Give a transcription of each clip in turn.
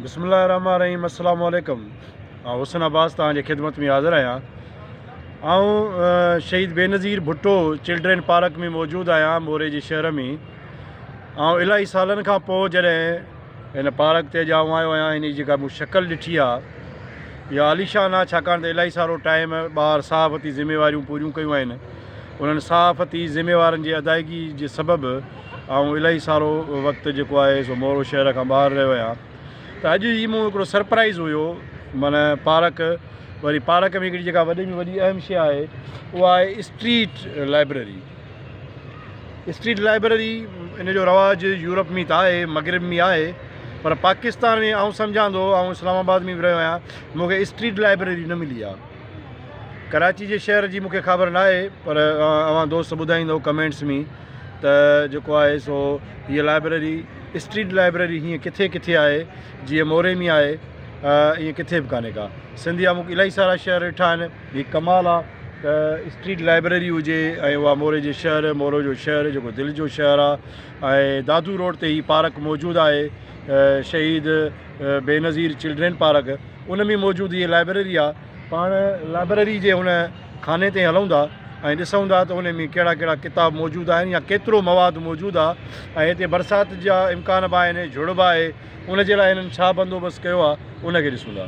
بسم الله الرحمن الرحيم السلام عليڪم آئون حسن عباس تان خدمت ۾ حاضر آهيان آئون Shaheed Benazir Bhutto children park ۾ موجود آهيان موري جي شهر ۾ آئون الاهي سالن کان پوء جڏهن هن پارڪ تي ڄائو آيو آهيان هن جي جيڪا مون شڪل ڏٺي آهي اها عاليشان آهي ڇاڪاڻ ته الائي سارو ٽائيم ٻاهر صحافتي ذميواريون پوريون ڪيون آهن انهن صحافتي ذميوارن جي ادائيگي جي سبب آئون الائي سارو وقت جيڪو آهي سو مورو شهر کان ٻاهر رهيو آهيان ته اڄ هي مون هڪڙو سرپرائز هيو من پارڪ وري پارڪ ۾ هڪڙي جيڪا وڏي ۾ وڏي اهم شي آهي اها آهي اسٽريٽ لائبرري اسٽريٽ لائبرري ان جو رواج يورپ ۾ ته آهي مغرب ۾ آهي پر پاڪستان ۾ آئون سمجهان ٿو آئون اسلام آباد ۾ به رهيو آهيان مون کي اسٽريٽ لائبرري نه ملي آهي ڪراچي جي شهر جي مون کي خبر نه آهي پر اوهان دوست ٻڌائيندو ڪمينٽس ۾ ته جيڪو آهي سو هيء لائبرري اسٽريٽ لائبرري هيئن ڪٿي ڪٿي آهي جيئن موري ۾ آهي ائين ڪٿي به کانه ڪا سنڌيا مون کي الاهي سارا شهر ڏٺا آهن هي ڪمال آ ته اسٽريٽ لائبريري هجي ۽ اها موري جي شهر مورو جو شهر جيڪو دل جو شهر آ ۽ دادو روڊ تي هي پارڪ موجود آهي شهيد بينظير چلڊرين پارڪ ان ۾ موجود هي لائبريري آ پاڻ لائبريري جي هن خاني تي هلون ٿا ۽ ڏسون ٿا ته ان ۾ ڪهڙا ڪهڙا ڪتاب موجود آهن يا ڪيترو مواد موجود آ ۽ هتي برسات جا امڪان به آهن جھڙ به آهي ان جي لاء هنن ڇا بندوبست ڪيو آ ان کي ڏسون ٿا.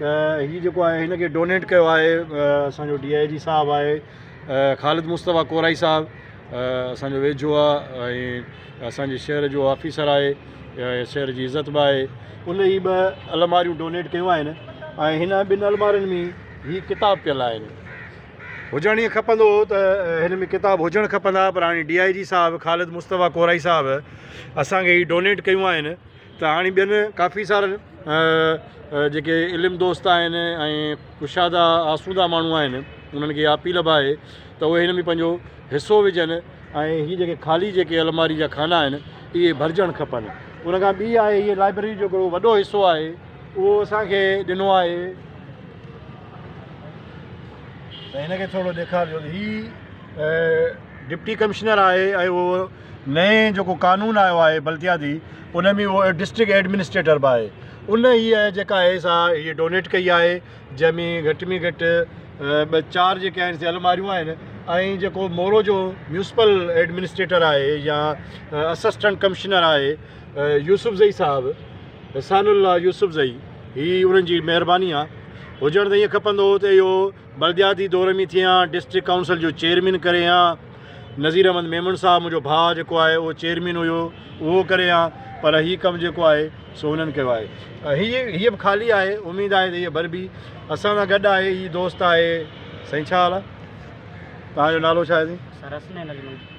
ته هي جيڪو آهي هن کي ڊونيٽ ڪيو آهي اسان جو ڊي آء جي صاحب آهي خالد مصطفيٰ ڪورائي صاحب اسان جو ويجهو آهي ۽ اسان جي شهر جو آفيسر آهي شهر جي عزت به آهي ان هي ٻه الماريون ڊونيٽ ڪيون آهن ۽ هن ٻن المارين ۾ هي ڪتاب پيل آهن هجڻ ائين کپندو هو ته هن ۾ ڪتاب هجڻ کپندا پر هاڻي ڊي آء جي صاحب خالد مصطفيٰ ڪورائي صاحب اسان کي هي ڊونيٽ ڪيون آهن ته هاڻي ٻين ڪافي سارن جيڪي علم دوست آهن ۽ ڪشادا آسودا ماڻهو آهن انهن کي اها اپيل به آهي ته اهي هن ۾ پنهنجو حصو وجهن ۽ هي جيڪي خالي جيڪي الماري جا خانا آهن اهي ڀرجڻ کپن ان کان ٻي آهي هي لائبرري جو هڪڙو وڏو حصو آهي اهو اسان کي ڏنو آهي ته هن کي ٿورو ڏيکارجو هي ڊپٽي ڪمشنر آهي ۽ اهو نئين جيڪو قانون آيو آهي بلدياتي ان ۾ اهو ڊسٽرڪٽ ايڊمنسٽريٽر به آهي ان هيء جيڪا آهي سا هيء ڊونيٽ ڪئي آهي جنهن ۾ گهٽ ۾ گهٽ ٻه چار جيڪي آهن سي الماريون آهن ۽ جيڪو مورو جو ميونسپل ايڊمنسٽريٽر آهي يا اسسٽنٽ ڪمشنر آهي يوسف زئي صاحب احسان الله يوسف زئي هي انهن جي مهرباني آهي هجڻ ته ايئن کپندو هو ته اهو بلدياتي دور ۾ ٿي هان ڊسٽرڪٽ ڪائونسل جو چيئرمين ڪري هان نظير احمد ميمڻ صاحب منهنجو ڀاء جيڪو آهي اهو چيئرمين هيو اهو ڪري هان پر هي ڪم جيڪو آهي سو هنن ڪيو آهي هي هي به خالي آهي اميد آهي ته هي بر بي اسان سان گڏ آهي هي دوست آهي سائين ڇا حال آهي تان جو نالو ڇا آهي سائين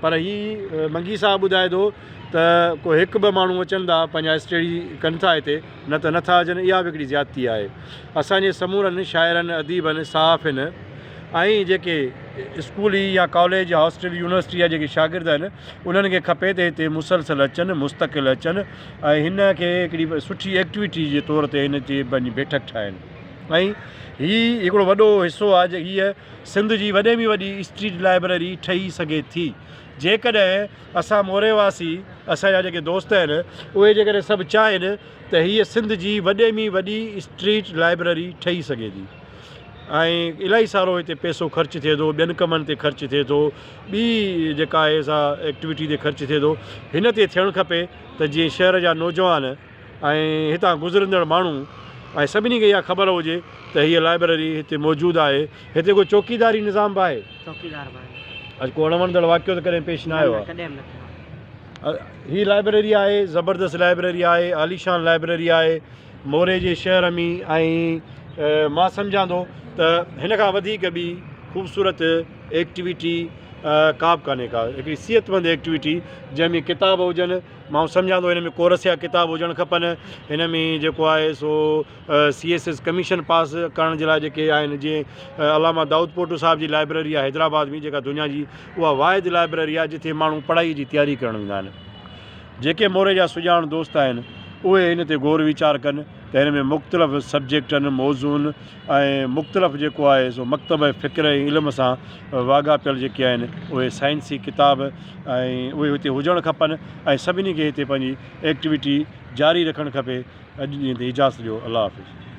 پر هي منگي صاحب ٻڌائي ٿو ته ڪو هڪ ٻه ماڻهو اچن ٿا پنهنجا اسٽيڊي ڪن ٿا هتي نه ته نٿا اچن اها به هڪڙي زيادتي آهي اسان جي سمورن شاعرن اديبن صحافين ۽ جيڪي اسڪولي يا ڪاليج هاسٽل يونيورسٽي جا جيڪي شاگرد آهن انهن کي کپي ته هتي مسلسل اچن مستقل اچن ۽ هن کي هڪڙي سٺي ايڪٽيويٽي جي طور تي هن جي پنهنجي بيٺڪ ٺاهن ۽ هي هڪڙو وڏو حصو آهي جي هيء سنڌ جي وڏي ۾ وڏي اسٽريٽ لائبرري ٺهي سگهي ٿي جيڪڏهن اسان موري واسي اسان جا جيڪي دوست آهن اهي جيڪڏهن سڀ چاهين ته هيء سنڌ جي وڏي ۾ وڏي اسٽريٽ لائبرري ٺهي سگهي ٿي ۽ الاهي سارو هتي پئسو خرچ ٿئي ٿو ٻين ڪمن تي خرچ ٿئي ٿو ٻي جيڪا آهي سا ايڪٽويٽي تي خرچ ٿئي ٿو هن تي ٿيڻ کپي ته جيئن شهر جا نوجوان ۽ هتان گذرندڙ ماڻهو ۽ سڀني کي اها خبر هجي ته هيء لائبرري هتي موجود آهي. هتي ڪو چوڪيداري نظام به آهي؟ چوڪيدار به آهي. اڄ ڪو اڻ وڻندڙ واقعو ته ڪڏهن پيش نه آيو آهي؟ نه نه ڪڏهن به نه ٿيو آهي. هيء لائبرري آهي، زبردست لائبرري آهي، عاليشان لائبرري آهي. موري جي شهر ۾ ۽ مان سمجهان ٿو ته هن کان وڌيڪ ٻي خوبصورت ايڪٽويٽي ڪا به ڪانهي ڪا هڪڙي صحت مند ايڪٽويٽي جنهن ۾ ڪتاب هجن. مان سمجهان ٿو هن ۾ ڪورس يا ڪتاب هجڻ کپن هن ۾ جيڪو آهي سو C S S commission pass ڪرڻ جي لاء جيڪي آهن جيئن علامه دائود پوٽو صاحب جي لائبريري آهي حيدرآباد ۾ جيڪا دنيا جي اها واحد لائبريري آهي جتي ماڻهو پڙهائي جي تياري ڪرڻ ويندا آهن جيڪي موري جا سڄاڻ دوست آهن اهي هن تي غور ويچار ڪن ته هن ۾ مختلف سبجيڪٽن موضوعن ۽ مختلف جيڪو آهي سو مڪتب فڪر ۽ علم سان واڳاپيل جيڪي آهن اهي سائنسي ڪتاب ۽ اهي هتي هجڻ کپن ۽ سڀني کي هتي پنهنجي ايڪٽويٽي جاري رکڻ کپي اڄ جي اجازت ڏيو الله حافظ.